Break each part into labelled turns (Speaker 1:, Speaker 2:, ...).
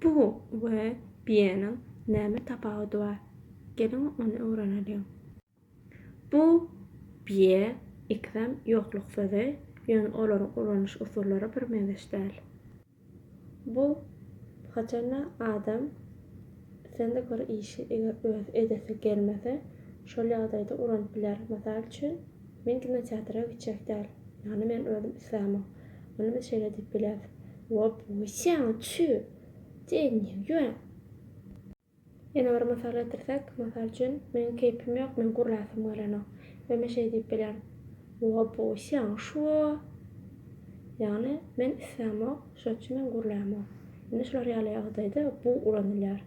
Speaker 1: Bu we bieniň näme tapawudy bar? Geliň ony öwreneliň. Bu, bie, iksem ýokluk sözi, ýöne olaryň ulanyş usullary birmeňzeş däl. Bu, haçanda adam islende bir işi eger özi edesi gelmese, şol ýagdaýda ulanyp biler. Mysal üçin. Men kinoteatra gitjek däl. Ýagny men özüm islämok. Muny biz şeýle diýip bilýäris, Wop, wisiaň, çü! Sen niä ýüwäň? Ýene bir mysal getirsek, mysal üçin, Meniň keýpim ýok, meň gürläsim gelenok. We men şeý diýip bilýän, Wop, wisiaň, şu-o! Ýagny, men islämok, şonuň üçin men gürlämok. Indi şular ýaly ýagdaýda bu ulanylýar.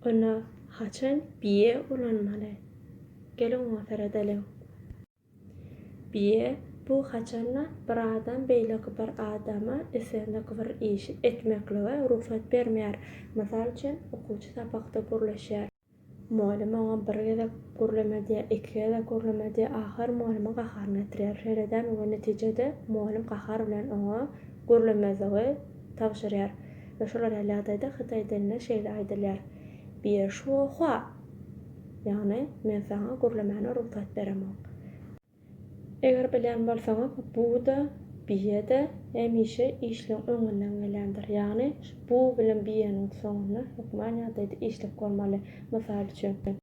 Speaker 1: Onda haçan bije ulanmaly? Geliň oňa seredelim. Bije bu haçanda bir adam beýleki bir adama islendik bir işi etmeklige rugsat bermeýär. Mysal üçin, okuwçy sapakda gürleşýär. Mugallym oňa bir gezek gürleme diýýär, iki gezek gürleme diýýär, ahyr mugallymyň gaharyna ýetirýär. Şeýle däl we netijede mugallym gahar bilen oňa gürlemezligi tabşyrýar we şolar ýaly ýagdaýda Hytaý dilinde şeýle aýdylýar, Bie shuo hua! ýagny Men saňa gürlemäne rugsat beremok. Eger bilýän bolsaňyz, bu-da, bie-de hemişe işleň öňünden gelýändir. Ýagny, bu bilen bieniň soňunda hökman ýagdaýda işlek bolmaly. Mysal üçin.